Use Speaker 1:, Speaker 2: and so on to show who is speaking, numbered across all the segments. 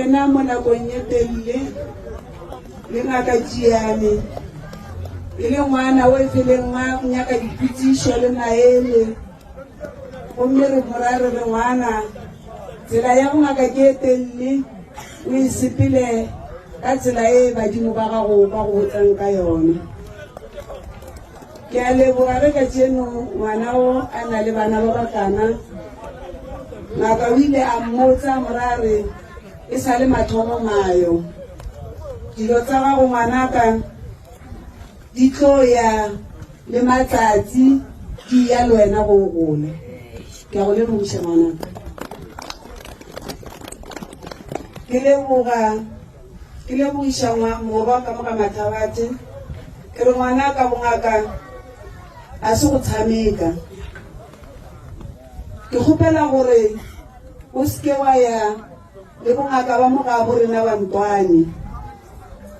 Speaker 1: Yena mo nakong ye telele le ngaka Tšiane e le ngwana o efeleng ma nyaka dipitišo le maele gomme re morare re ngwana tsela ya bongaka ke e telele o e sepele ka tsela e badimo ba gago ba go botsang ka yone. Ke a leboga ge kajeno ngwana o a na le bana ba bakana. Ngaka o ile a mmotsa morare e sa le mathomo mayo, dilo tsa gago ngwanaka di tlo ya le matsatsi di ya le wena go o gola. Ke a go lebogiša ngwanaka. Ke leboga Ke lebogiša ngwa, morwa ka moka Mathabate. Ke re ngwanaka bongaka a se go tshameka. Ke kgopela gore o se ke wa ya le bongaka ba mogabo rena ba Ntwane.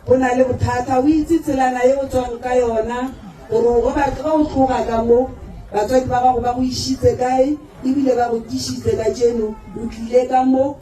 Speaker 1: Bo na le bothata. O itse tselana e o tswang ka yona gore o go batho ba o tloga ka mo batswadi ba gago ba go išitse kae ebile ba go tišitse ka jeno o tlile ka mo.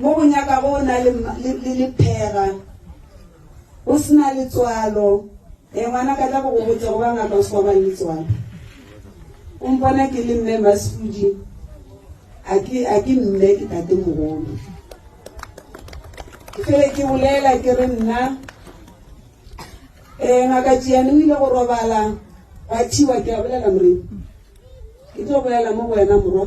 Speaker 1: Mo go nyaka go na le, le, le lephera. O se na letswalo. E, ngwana ka tla go go botsa go ba ngaka o se wa ba le letswalo. O mpona ke le mme Masudi. A ke, a ke mme ke tate mogolo. Ke fele ke bolela ke re nna, e, ngaka Tšiane o ile go robala, gwa thiwa ke a bolela morena. Ke tlo bolela mo go wena morwa.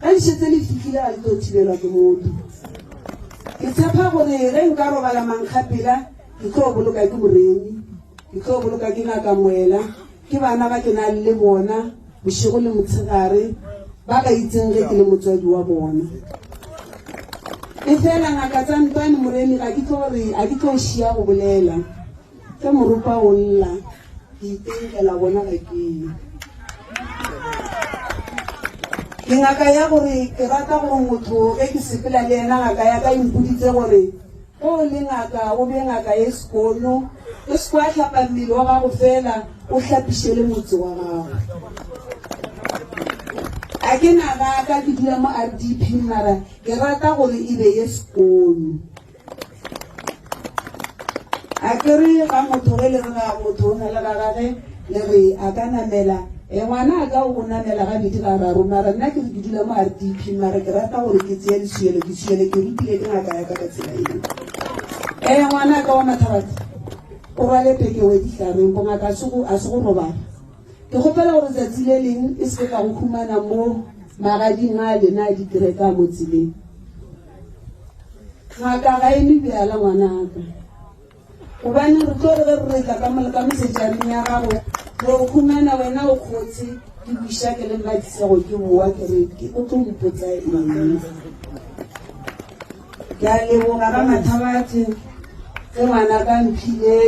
Speaker 1: Ka di šetse le fihlile ga le tlo thibelwa ke motho. Ke tshepa gore ge nka robala mankgapela ke tlo boloka ke Moremi, ke tlo boloka ke Ngaka Moela, ke bana ba ke nang le bona bošego le motshegare ba ka itseng ge ke le motswadi wa bona. Efela Ngaka Tsantwane Moremi ga ke tlo re a ke tlo šia go bolela. Ke morupa o lla, ke itenkela bona ga ke ye. Ke ngaka ya gore ke rata gore motho ge ke sepela le ena ngaka ya ka impoditse gore ge o le ngaka o be ngaka e sekono o se kwa hlapa mmele wa gago fela o hlapiše le motse wa gago a ke naga ka ke dula mo rdp mara ke rata gore e be ye sekono a ke re ga motho ge le re ga motho o na le ga gage le re a ka namela e ngwana a ka o namela ga bedi ga raro mara nna ke re ke dula mo r d p mara ke rata gore ke tseye lesuyelo ke suyele ke rutile ke ngaka ya ka ka tsela eo e ngwana a ka wa mathabatha o rwale pekewe ditlhareng bongaka a se go robala ke gopela gore tsatsi le leng e seke ka go humana mo magading a lena a dikereka mo tseleng ga ka ga eme bjala ngwanaka gobane re tlo re ge re retla ka moleka mosetšaneng ya gago re o humana wena o kgotse ke buša ke le matisego ke boa ke re ke o tlo mpotsa eng ke a leboga ga mathabathe ge ngwana ka mphile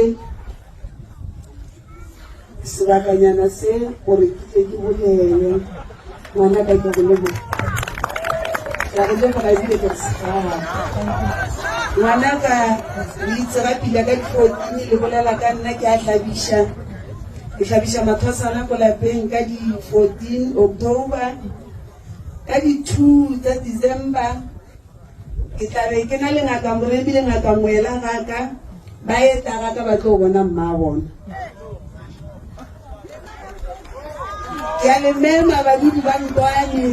Speaker 1: sebakanyana se gore ke tle ke bolele ngwana ka ke go leboga ka go leboga ebile ke segaa ngwana ka leitse ga pila ka ditlokini le bolela ka nna ke a hlabiša ke hlabiša mathwasana ko lapeng ka di-fourteen october ka di-two tsa december Ke tla be ke na le Ngaka Moremi le Ngaka Moela ga ka, ba etla ga ka ba tlo bona mmabona. Ke a le mema badudi ba Nkwani.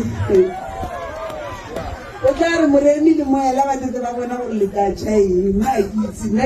Speaker 1: O tla re Moremi le Moela ba tletse ba bona gore le tla tšha eng, mma a ke itse nna